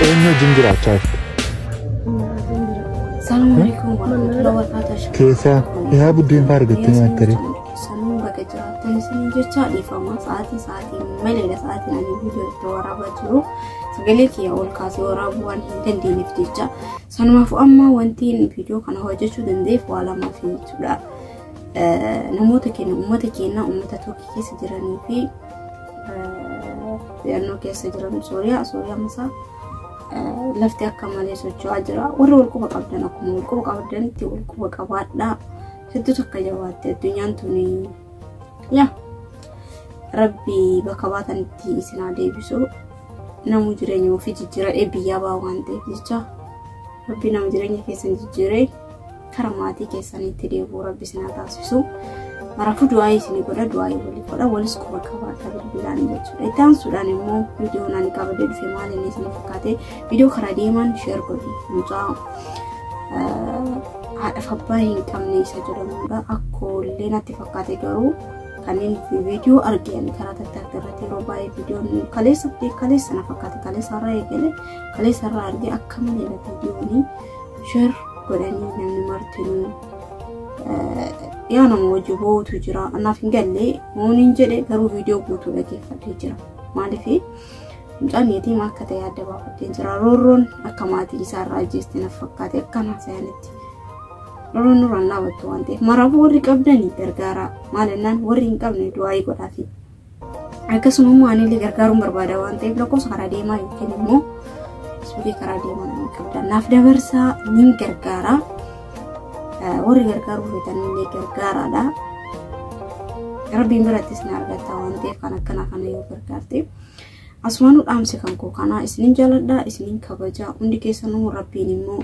Eenyu wajjin jiraachaa jirtu? Salaam alaikum warahmatullahi wabarakatuh. Keessaa dhihaa buddeen fa'aa argattee nyaatte ree? Sammuu baga jiraattan isin jecha dhiifama sa'aatii sa'aatiin maleedha sa'aatiin ani viidiyoo itti waraabaa jiru sagalee kiyya ol kaasee waraabuu waan hin dandeenyeef jecha Sanumaafuu amma wanti viidiyoo kana hojjechuu danda'eef waa lamaaf jechuudha. Namoota keenya uummata keenya uummata Turkii keessa jiranii fi naannoo keessa jiran Sooriyaa Sooriyaa masaa lafti akka malee socho'aa jira. Warri wal quba qabdan akkuma wal quba qabdanitti wal quba qabaadhaa. Hedduu takka jabaatte addunyaan tuni yaa rabbi bakka baatanitti isin haa deebisu. Namu jireenya ofii jijjiiradhee biyyaa baa waan ta'eef jecha rabbi nama jireenya keessan jijjiiree kara maatii keessanitti deebi'u rabbi isin haa taasisu. Maraafuu du'aayii isin godha du'aayii walii godha walis quba qabaata bilbilaan jechuudha. Itti aansuudhaan immoo viidiyoo naan qabadee dhufe maal inni isin fakkaate viidiyoo karaa deemaan sheer godhi mucaa haadhaaf abbaa hin qabne isa jedhamudha. Akkoo illee natti fakkaate garuu Kanneen viidiyoo arge ani karaa tattarga irratti yeroo baay'ee viidiyoon kaleessa fi kaleessa na fakkaate kaleessa irraa eegale kaleessa irraa arge akka malee na viidiyoonii share godhanii namni martinuu yaa nama hojii bootu jira anaaf hin galle mooniin jedhe garuu viidiyoo guutuu dhageeffadhee jira maaliif mucaan yatiima akka ta'e adda baafadhee jira roorroon akka maatiin isaa irraa ajjeeste na fakkaate akka naasayanitti Nuruun nuraan dhaabattu waan ta'eef maraafuu warri qabdanii gargaaraa maal jennaan warri hin qabne du'aayii godhaafi. Akkasuma immoo anillee gargaaruun barbaada waan ta'eef lakkoofsa karaa deemaa yookiin immoo suuqii karaa deemaa nama qabdan naaf dabarsaa niin gargaaraa warri gargaaruu feetanillee gargaaraadha. Rabbiin birattis na argatta waan ta'eef kan akkanaa kana yoo gargaarte. Asumaanuu dhaamsi kan koo kanaa isinin jaaladha isinin kabaja hundi keessanuu rabbiin immoo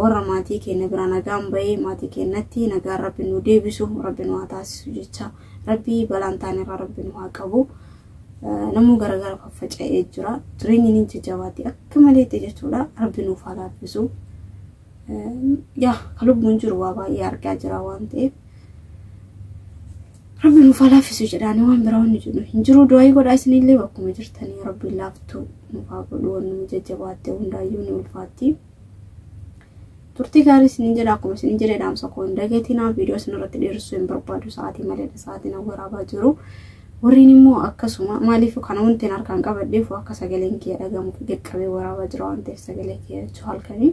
warra maatii keenya biraa nagaan bahee maatii keenyatti nagaan rabbi nu deebisu rabbi nu haa taasisu jecha rabbi balaan taanirraa rabbi nu haa qabu namuu garagara faffaca'ee jira jireenyi ni jajjabaatti akka maleetti jechuudha rabbi nuuf haa laaffisu yaa ka lubbuun jiru waa baay'ee argaa jira waan ta'eef Rabbi nuuf haa laaffisu jedhaanii waan biraa wanni jedhu hin jiru du'aayii godhaa isinillee bakkuma jirtanii rabbi laaftuu nuuf haa godhu wanni nu jajjabaatte hundaayyuu ni ulfaatti. Turtii gaarii isiniin jedha akkuma isiniin jedhe dhaamsa koo hin dagatinaa viidiyoo isin irratti dheeressuu hin barbaadu sa'aatii maleedha sa'aatiin an waraabaa jiru. Warreen immoo akkasuma maaliif kana wanti harkaan qabadheef akka sagaleen kiyya dhagahamuuf dirqamee waraabaa jira waan ta'eef sagalee kiyya jechuu halkanii.